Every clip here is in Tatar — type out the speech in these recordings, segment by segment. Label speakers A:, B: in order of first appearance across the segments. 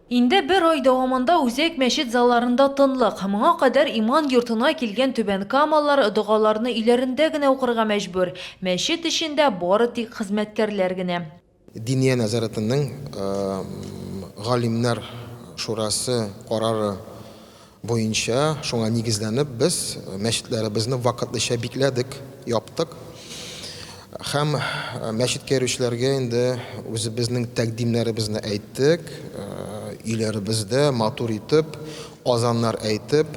A: Инде бер ай дәвамында үзәк мәчет залларында тынлык. Моңа кадәр иман йортына килгән түбәнкамалылар догаларны өйләрендә генә укырга мәҗбүр. Мәчет эчендә бары тик хезмәткәрләр генә. Диния
B: нәзарәтенең Галимнәр шурасы карары Буенча, шуңа нигезләнеп, без мәчетләребезне вакытлыча бикләдек, яптык. Һәм мәчеткә йөрүчеләргә инде үзебезнең тәкъдимнәребезне әйттек, өйләребездә матур итеп азаннар әйтеп,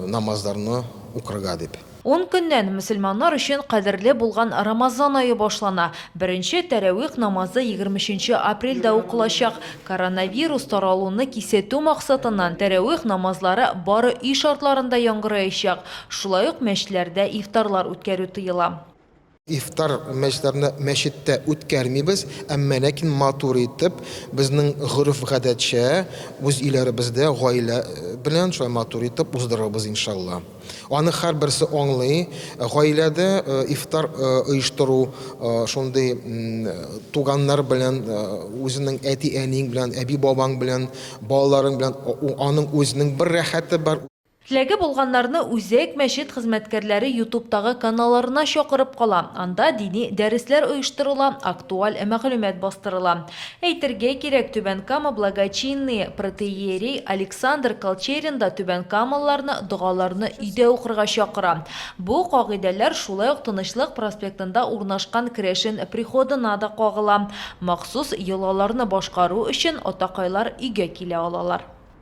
B: намазларны укырга дип. Ун көннән
A: мөселманнар өчен кадерле булган Рамазан ае башлана. Беренче тәравих намазы егерме өченче апрельдә укылачак. Коронавирус таралуны кисәтү максатыннан тәравих намазлары бары өй шартларында яңгыраячак. Шулай ук мәчетләрдә ифтарлар үткәрү тыела. Ифтар
B: мәҗлесләрне мәчеттә үткәрмибез, әмма ләкин матур итеп, безнең гореф-гадәтчә, үз өйләребездә гаилә белән шулай матур итеп уздырырбыз, иншалла. Аны һәрберсе аңлый, гаиләдә ифтар оештыру шундый туганнар белән, үзенең әти-әниең белән, әби-бабаң белән, балаларың белән, аның үзенең бер рәхәте бар. Теләге булганнарны
A: үзәк мәчет хезмәткәрләре ютубтагы каналларына чакырып кала. Анда дини дәресләр оештырыла, актуаль мәгълүмат бастырыла. Әйтергә кирәк, Түбән Кама благочинные протоиерей Александр Колчерин да түбәнкамалыларны догаларны өйдә укырга чакыра. Бу кагыйдәләр шулай ук Тынычлык проспектында урнашкан керәшен приходына да кагыла. Махсус йолаларны башкару өчен атакайлар өйгә килә алалар.